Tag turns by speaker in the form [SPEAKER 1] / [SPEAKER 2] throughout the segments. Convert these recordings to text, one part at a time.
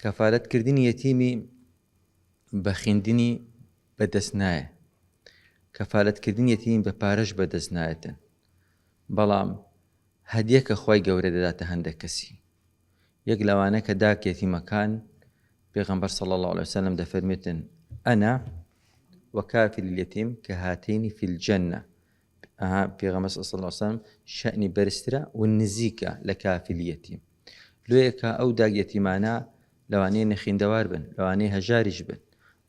[SPEAKER 1] کەفالەت کردنی یەتیمی بە خیندنی بە دەست نایە کەفالەت کردنی یەتیمی بە پارەش بە دەست نایەتن بەڵام هەدیە کە خوای گەورە دەداتە هەندێک کەسی یەک لەوانە کە داک یەتیمەکان پێغەمبەر صلی الله عليه وسلم دەفەرمێتن ئەنا وەکافل اليتیم کە هاتینی فی الجنە ئەها پێغەمبەر صلی الله علیه و سلم شەنی بەرزترە و نزیکە لە کافل یەتیم لۆیەکە ئەو داگ یەتیمانە لەوانەیە نەخیندەوار بن لەوانەیە هەژاریش بن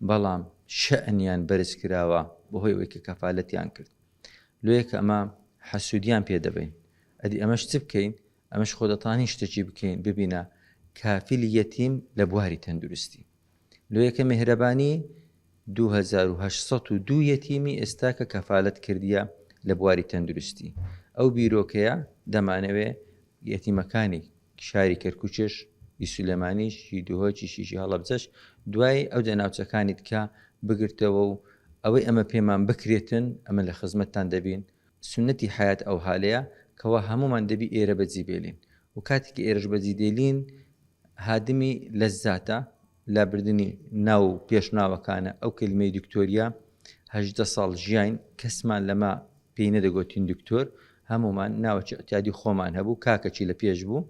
[SPEAKER 1] بەڵام شەنیان بەرز کراوە بەهۆی ئەوەی کە کەفاالەتیان کرد لۆیەکە ئەمە حەسوودیان پێ دەبین ئەدی ئەمەش چ بکەین ئەمەش خۆدەتانی شتەکی بکەین ببینە کافیل یەتیم لە بواری تەندروستی لۆیەکە مێهرەبانی دوو هەزار و هەشت سەد و دوو یەتیمی ئێستا کە کەفالەت کردیە لە بواری تەندروستی ئەو بیرۆکەیە دەمانەوێ یەتیمەکانی شاری کەرکوچش ی سولێمانیش ی دهۆکیش یشی هەڵەبجەش دوای ئەو دە ناوچەکانی دکە بگرتەوە و ئەوەی ئەمە پێمان بکرێتن ئەمە لە خزمەتتان دەبین سوننەتی حەیات ئەوهالەیە کەوا هەموومان دەبی ئێرە بەجی بێلین و کاتێ کە ئێرەش بەجی دێلین هادمی لەزاتە لە بردنی ناو و پێش ناوەکانە ئەو کەلیمەی دکتۆریا هەژدە ساڵ ژیاین کەسمان لەمە پێی نەدەگۆتین دکتۆر هەموومان ناوەکی ئەتیادی خۆمان هەبوو کاکەکی لە پێش بوو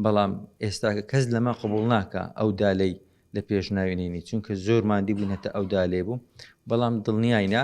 [SPEAKER 1] بەڵام ئێستاکە کەس لەمە قبول ناکە ئەو دالەی لە پێش ناوێنینی چونکە زۆر مادی بوون هەتا ئەو دالێ بوو بەڵام دڵنیایە